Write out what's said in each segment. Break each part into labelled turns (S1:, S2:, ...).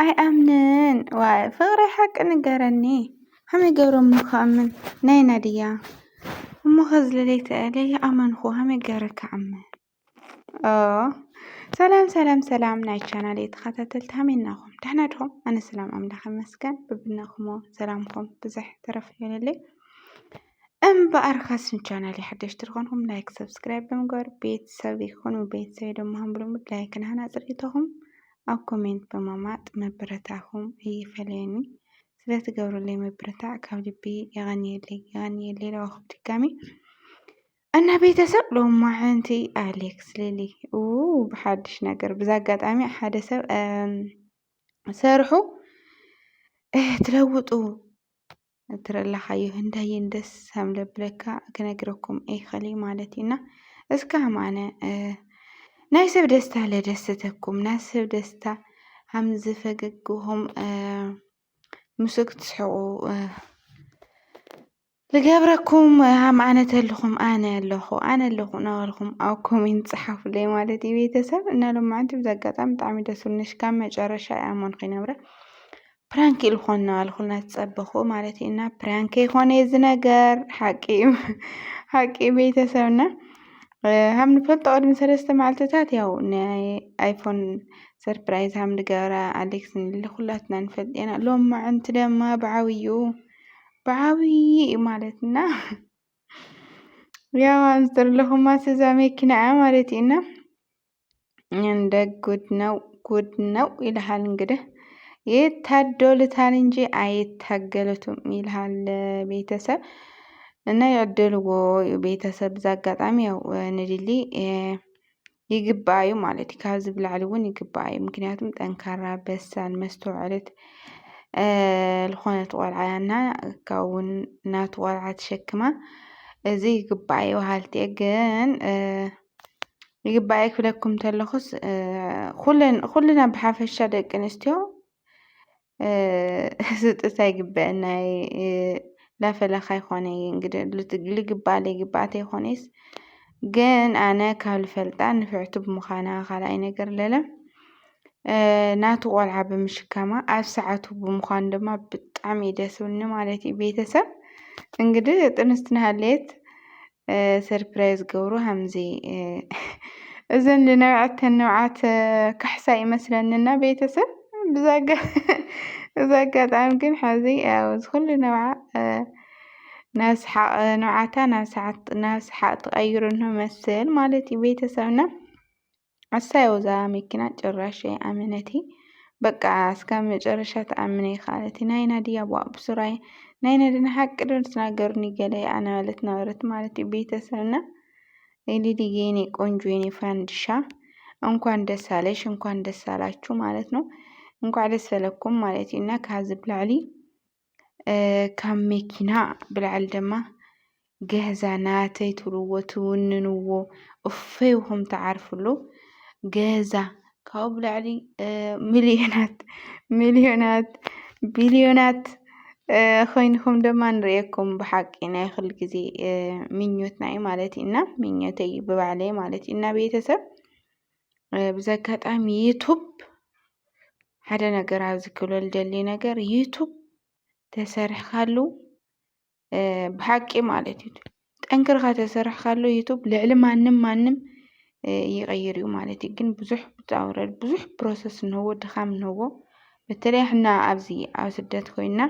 S1: ኣይኣምንን ዋይ ፍቅሪ ሓቂ ንገረኒ ከመይ ገሮም ክኣምን ናይና ድያ እሞ ከዚ ለለይተኣለ ይኣመንኹ ከመይ ገረ ክኣምን ሰላም ሰላም ሰላም ናይ ቻናል የተኸታተልቲ ከመይ ናኹም ደሕና ድኹም ኣነ ሰላም ኣምላኽ ይመስገን ብብናኹሞ ሰላምኩም ብዝሕ ተረፍ ይበለለይ እምበኣር ካስን ቻናል ሓደሽቲ ዝኾንኩም ላይክ ሰብስክራይብ ብምግባር ቤተሰብ ይኹኑ ቤተሰብ ድማ ሃምብሎምድ ላይክን ሃናፅር ይተኹም ኣብ ኮሜንት ብምቅማጥ ምብርታዕኩም ኣይፈለየኒ ስለትገብሩለይ ምብርታዕ ካብ ልቢ የቀንየለይ የቀንየለይ ኢልኩ ድጋሚ እና ቤተሰብ ሎማዓንቲ ኣሌክስ ሊሊ ብሓድሽ ነገር ብዛ ኣጋጣሚ ሓደ ሰብ ሰርሑ ትለውጡ ትረላኻዮ ህንዳይን ደስ ከም ዘብለካ ክነግረኩም ኣይክእል ማለት እዩና እስካ ማነ ናይ ሰብ ደስታ ለደሰተኩም ናይ ሰብ ደስታ ከምዚ ፈገግኹም ምስ ክትስሕቁ ዝገብረኩም ሃም ኣነ ተልኹም ኣነ ኣለኹ ኣነ ኣለኹ እናበልኩም ኣብ ኮሜንት ፀሓፉለይ ማለት እዩ ቤተሰብ እና ሎማዓንቲ ብዚ ኣጋጣሚ ብጣዕሚ ደስ ብልኒ ሽካብ መጨረሻ እያ እሞ ንክይነብረ ፕራንክ ኢልኮና ኣልኩልና ትጸበኹ ማለት እዩ እና ፕራንክ ይኾነ እዚ ነገር ሓቂ እዩ ሓቂ ቤተሰብና ሃም ንፈልጦ ቅድሚ ሰለስተ መዓልትታት ያው ናይ ኣይፎን ሰርፕራይዝ ሃም ንገብራ ኣሌክስ ንል ኩላትና ንፈልጥ ኢና ሎም መዓንቲ ደማ ብዓብዩ ብዓብዪ እዩ ማለት እና ያው ኣንስተር ለኹማ ስዛ መኪና እያ ማለት እዩ እና እንደ ጉድ ነው ጉድ ነው ይልሃል እንግዲህ ይታደሉታል እንጂ አይታገሉትም ይልሃል ቤተሰብ እና ያደልዎ ቤተሰብ እዛ አጋጣሚ ያው ንድሊ ይግባዩ ማለት እዩ ካብዚ ብላዕሊ እውን ይግባዩ ምክንያቱም ጠንካራ በሳል መስተውዐለት ዝኾነት ቆልዓ እያ እና ካብ እውን ናቱ ቆልዓ ተሸክማ እዚ ይግባዩ በሃልቲ እየ ግን ይግባኣይ ክብለኩም እንተለኹስ ኩልና ብሓፈሻ ደቂ ኣንስትዮ ስጥታ ይግበአና ላፈላካ ይኾነ እንግዲህ ልግባኣ ለይግባኣ ተይኾነስ ግን ኣነ ካብ ልፈልጣ ንፍዕቲ ብምዃና ካልኣይ ነገር ለለ ናቱ ቆልዓ ብምሽካማ ኣብ ሰዓቱ ብምዃኑ ድማ ብጣዕሚ እዩ ደስ ዝብለኒ ማለት እዩ ቤተሰብ እንግዲህ ጥንስቲ ናሃለየት ሰርፕራይዝ ገብሩ ሃምዚ እዘን ልነብዐተን ንብዓት ካሕሳ ይመስለንና ቤተሰብ ብዛጋ እዚ ኣጋጣሚ ግን ሓዚ ያው ዝኩሉ ንብዓ ናብ ሰሓቅ ንብዓታ ናብ ሰሓቅ ትቀይሮ መስል ማለት እዩ ቤተሰብና ኣሰይ ወዛ መኪና ጭራሽ ኣይኣመነቲ በቃ እስከ መጨረሻ ትኣምነ ይካለት ናይና ድያ ቧእ ብሱራይ ናይና ድና ሓቂ ዶ ትናገሩኒ ገለ ኣናበለት ነበረት ማለት እዩ ቤተሰብና ሊሊ የኔ ቆንጆ የኔ ፋንድሻ እንኳን ደስ አለሽ እንኳን ደስ አላችሁ ማለት ነው እንኳን ደስ አለኩም ማለት እዩ እና ከዚ ብላዕሊ ካብ መኪና ብላዕሊ ድማ ገዛ ናተይ ትብልዎ ትውንንዎ እፎይ ኢልኩም ትዓርፍሉ ገዛ ካብኡ ብላዕሊ ሚልዮናት ሚልዮናት ቢልዮናት ኮይንኩም ድማ ንርእየኩም ብሓቂ ናይ ኩሉ ግዜ ምኞትና እዩ ማለት እዩ እና ምኞተይ እዩ ብባዕለይ ማለት እዩ እና ቤተሰብ ብዘይ ኣጋጣሚ ዩቱብ ሓደ ነገር ኣብዚ ክብሎ ዝደሊ ነገር ዩቱብ ተሰሪሕካሉ ብሓቂ ማለት እዩ ጠንክርኻ ተሰሪሕካሉ ዩቱብ ልዕሊ ማንም ማንም ይቕይር እዩ ማለት እዩ። ግን ብዙሕ ውጣ ውረድ ብዙሕ ፕሮሰስ እንሆዎ ድኻም እንሆዎ በተለይ ሕና ኣብዚ ኣብ ስደት ኮይና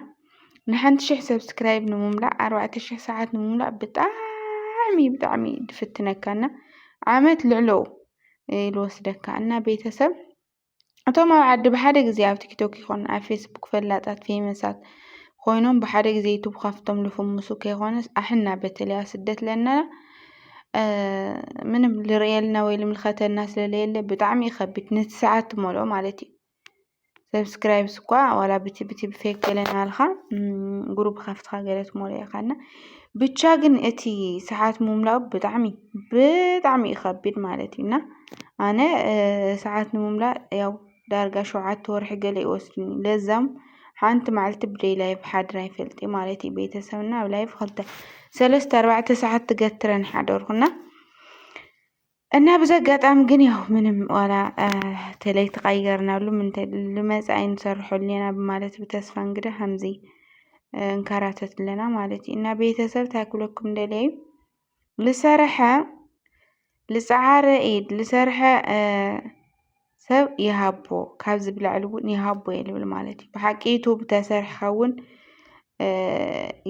S1: ንሓንቲ ሽሕ ሰብስክራይብ ንምምላእ ኣርባዕተ ሽሕ ሰዓት ንምምላእ ብጣዕሚ ብጣዕሚ ድፍትነካ እና ዓመት ልዕለው ልወስደካ እና ቤተሰብ እቶም ኣብ ዓዲ ብሓደ ግዜ ኣብ ቲክቶክ ይኹን ኣብ ፌስቡክ ፈላጣት ፌመሳት ኮይኖም ብሓደ ግዜ ዩቱብ ካፍቶም ልፍምሱ ከይኮነስ ኣሕና በተለይ ኣብ ስደት ለና ምንም ልርእየልና ወይ ልምልከተና ስለለየለ ብጣዕሚ ይኸብድ ነቲ ሰዓት ትመልኦ ማለት እዩ ሰብስክራይብ ስኳ ዋላ ብቲ ብቲ ብፌክ ገለ ናልኻ ግሩብ ከፍትኻ ገለ ትሞልኦ ኢኻ እና ብቻ ግን እቲ ሰዓት ምምላኡ ብጣዕሚ ብጣዕሚ እዩ ከቢድ ማለት እዩ እና ኣነ ሰዓት ንምምላእ ያው ዳርጋ ሸውዓተ ወርሒ ገለ ይወስድኒ ለዛም ሓንቲ መዓልቲ ብደይ ላይፍ ሓድር ኣይፈልጥ ማለት እዩ ቤተሰብና ኣብ ላይፍ ክልተ ሰለስተ ኣርባዕተ ሰዓት ትገትረን ሓደርኩና እና ብዚ ኣጋጣሚ ግን ያው ምንም ዋላ ተለይ ተቀየርናሉ ልመፅእ ኣይንሰርሐሉ ኢና ብማለት ብተስፋ እንግዳ ከምዚ እንከራተት ኣለና ማለት እዩ እና ቤተሰብ እንታይ ክብለኩም ደልየ እዩ ልሰርሐ ልፀዓረ ኢድ ልሰርሐ ሰብ ይሃቦ ካብ ዝብላዕሉ እውን ይሃቦ እየ ልብል ማለት እዩ ብሓቂ ዩቱብ ተሰሪሕካ እውን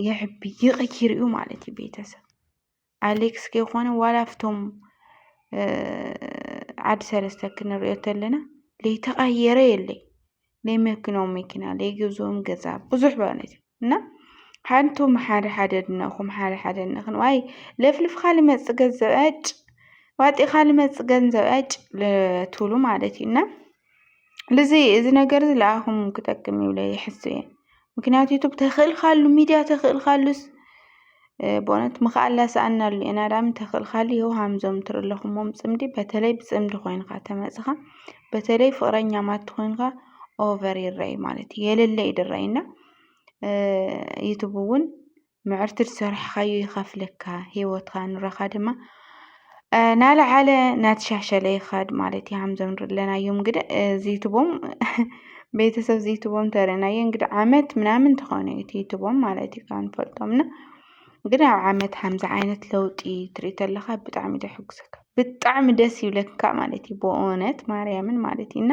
S1: ይሕቢ ይቕይር እዩ ማለት እዩ ቤተሰብ ኣሌክስ ከይኮነ ዋላ ኣብቶም ዓዲ ሰለስተ ክንሪኦ ተለና ለይተቐየረ የለይ ለይ መኪኖም መኪና ለይ ገዝኦም ገዛ ብዙሕ ማለት እዩ እና ሓንቶም ሓደ ሓደ ድነኹም ሓደ ሓደ ንኽን ዋይ ለፍልፍካ ልመፅእ ገንዘብ ዕጭ ዋጢኻ ልመፅእ ገንዘብ ዕጭ ትብሉ ማለት እዩ እና ልዙይ እዚ ነገር እዚ ለኣኹም ክጠቅም ይብለ ይሕሱ እየ ምክንያቱ ዩቱብ ተኽእልካሉ ሚድያ ተኽእልካሉስ ብእነት ምኽኣላ ሰኣናሉ ኤናዳም ተኽእልካሉ የው ሃምዞም ትርለኹሞም ጽምዲ በተለይ ብጽምዲ ኾይንካ ተመጽኻ በተለይ ፍቕረኛ ማት ኾይንካ ኦቨር ይረይ ማለት የለለ ይድረይና ዩቱብ እውን ምዕርቲ ዝሰራሕኻዮ ይኸፍለካ ሂወትካ ንሮኻ ድማ ናላዓለ ናተሻሻለ ይኸድ ማለት እዩ። ከምዞም ንሪኦም ዘለናዮ እንግዲህ እዚ ዩቱቦም ቤተሰብ እዚ ዩቱቦም እንተሪእናዮ እንግዲህ ዓመት ምናምን ተኾነ እዩ እቲ ዩቱቦም ማለት እዩ ካብ ንፈልጦም እና ግን ኣብ ዓመት ከምዚ ዓይነት ለውጢ ትርኢ ተለኻ ብጣዕሚ እዩ ዘሕጉሰካ ብጣዕሚ ደስ ይብለካ ማለት እዩ ብእውነት ማርያምን ማለት እዩ እና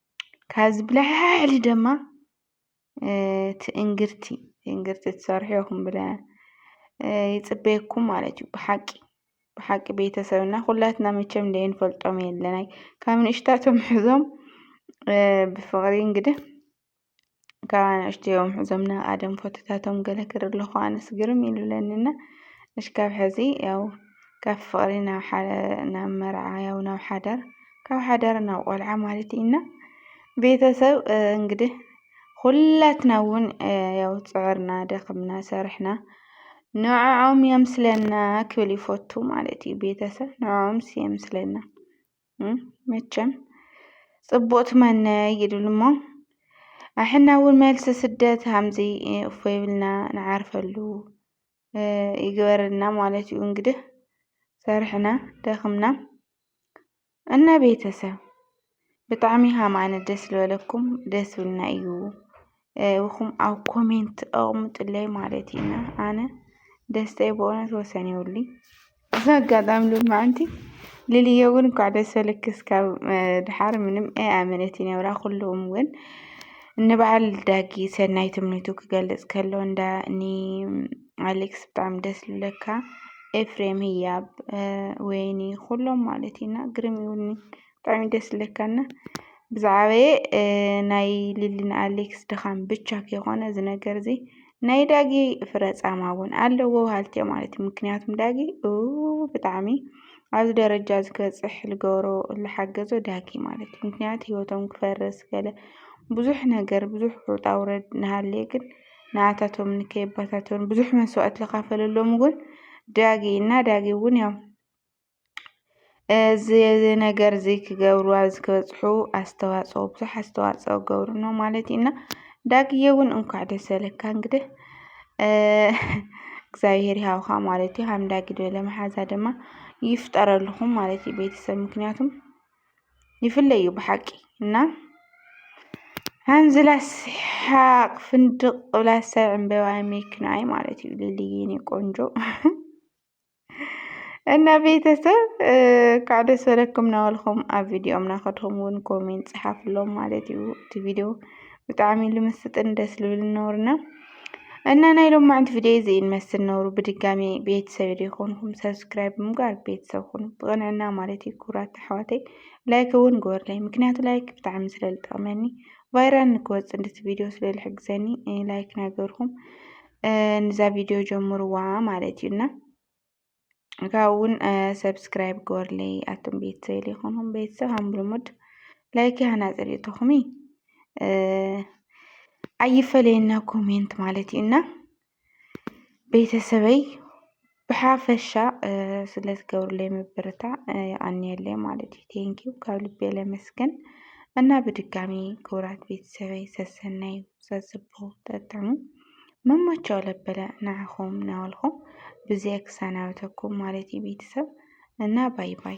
S1: ካብዚ ብላዕሊ ድማ ትእንግርቲ ትእንግርቲ ትሰርሑ ኢኹም ብለ ይጽበየኩም ማለት እዩ ብሓቂ ብሓቂ ቤተሰብና ኩላትና መቸም ደይንፈልጦም የለናይ ካብ ንእሽታቶም ሕዞም ብፍቕሪ እንግዲ ካብ ኣናእሽተዮም ሕዞም ናብ ኣደም ፎቶታቶም ገለ ክርኢ ከለኹ ኣነስ ግርም እዩ ልብለኒ እና እሽካብ ሕዚ ያው ካብ ፍቕሪ ናብ መርዓ ያው ናብ ሓዳር ካብ ሓዳር ናብ ቆልዓ ማለት እዩ እና ቤተሰብ እንግዲህ ኹላትና እውን ያው ፅዕርና ደኽምና ሰርሕና ንዕዖም የምስለና ክብል ይፈቱ ማለት እዩ ቤተሰብ ንዕኦምስ የምስለና። መቸም ጽቡቅ ትመነ ይድሉ እሞ ኣሕና እውን መልሲ ስደት ሃምዚ እፎ ይብልና ንዓርፈሉ ይግበርልና ማለት እዩ። እንግዲህ ሰርሕና ደኽምና እና ቤተሰብ ብጣዕሚ ሃማነ ደስ ልበለኩም ደስ ብልና እዩ። ኢኹም ኣብ ኮሜንት ኣቕሙጥለይ ማለት ኢና ኣነ ደስተይ ብእውነት ወሰን ይብሉ እዚ ኣጋጣሚ ልማዕንቲ ልልየ እውን እንኳዕ ደስ በለኪ እስካብ ድሓር ምንም ኣይ ኣመነት ይነብራ ኩሉም እውን ንበዓል ዳጊ ሰናይ ትምኒቱ ክገልፅ ከሎ እንዳ ኒ ኣሌክስ ብጣዕሚ ደስ ልብለካ ኤፍሬም ህያብ ወይኒ ኩሎም ማለት ኢና ግርም ይብሉኒ ብጣዕሚ ደስ ዝብለካ እና ብዝዓበየ ናይ ሊሊን ኣሌክስ ድኻም ብቻ ከይኾነ እዚ ነገር እዚ ናይ ዳጊ ፍረ ጻማ እውን ኣለዎ በሃልቲ እዮም ማለት እዩ። ምክንያቱም ዳጊ ብጣዕሚ ኣብዚ ደረጃ እዚ ክበፅሕ ዝገበሮ ዝሓገዞ ዳጊ ማለት እዩ። ምክንያቱ ሂወቶም ክፈርስ ገለ ብዙሕ ነገር ብዙሕ ውጣ ውረድ እናሃለየ ግን ንኣታቶም ንከይበታተኑ ብዙሕ መስዋእቲ ዝኸፈለሎም እውን ዳጊ እዩ እና ዳጊ እውን ያው እዚ ነገር እዚ ክገብሩ ኣብ ዝክበፅሑ ኣስተዋፅኦ ብዙሕ ኣስተዋፅኦ ክገብሩ እሞ ማለት እዩ እና ዳግዬ እውን እንኳዕ ደስ በለካ እንግዲህ እግዚኣብሄር ይሃብኻ ማለት እዩ። ከም ዳጊ ዝበለ መሓዛ ድማ ይፍጠረልኹም ማለት እዩ ቤተሰብ ምክንያቱም ይፍለ እዩ ብሓቂ እና ሃንዝላ ስሓቅ ፍንድቅ ብላ ሰብ ዕምበባ የሚክናይ ማለት እዩ ልልዬ የኔ ቆንጆ እና ቤተሰብ ካብ ደስ በለኩም ናበልኩም ኣብ ቪድዮም ናኸድኹም እውን ኮሜንት ፅሓፍሎም ማለት እዩ እቲ ቪድዮ ብጣዕሚ ልምስጥን ደስ ልብል ነውርና እና ናይ ሎማዕንቲ ቪድዮ እዚ እንመስል ነውሩ ብድጋሚ ቤተሰብ ይኹንኩም ሰብስክራይብ ብምግባር ቤተሰብ ኩኑ ብቕንዕና ማለት እዩ ክቡራት ኣሕዋተይ ላይክ እውን ግበርለይ ምክንያቱ ላይክ ብጣዕሚ ስለ ዝጠቕመኒ ቫይራል ንክወፅእ እንድቲ ቪድዮ ስለ ዝሕግዘኒ ላይክ ናገርኩም ንዛ ቪድዮ ጀምርዋ ማለት እዩ እና ካብኡ እውን ሰብስክራይብ ግበርለይ ኣቱም ቤተሰብ ዘይኮንኩም ቤተሰብ ሃም ልሙድ ላይክ ያህና ፅሪእቶኹም ኣይፈለየና ኮሜንት ማለት እዩ እና ቤተሰበይ ብሓፈሻ ስለዝገብሩለይ ምብርታዕ የቀንየለይ ማለት እዩ። ቴንኪው ካብ ልቤ ለመስግን እና ብድጋሚ ክቡራት ቤተሰበይ ሰሰናይ ሰስቦ ጠጥዑ መመቸው ለበለ ንዓኹም ናበልኹም ብዚኣ ክሰናበተኩም ማለት እዩ ቤተሰብ እና ባይ ባይ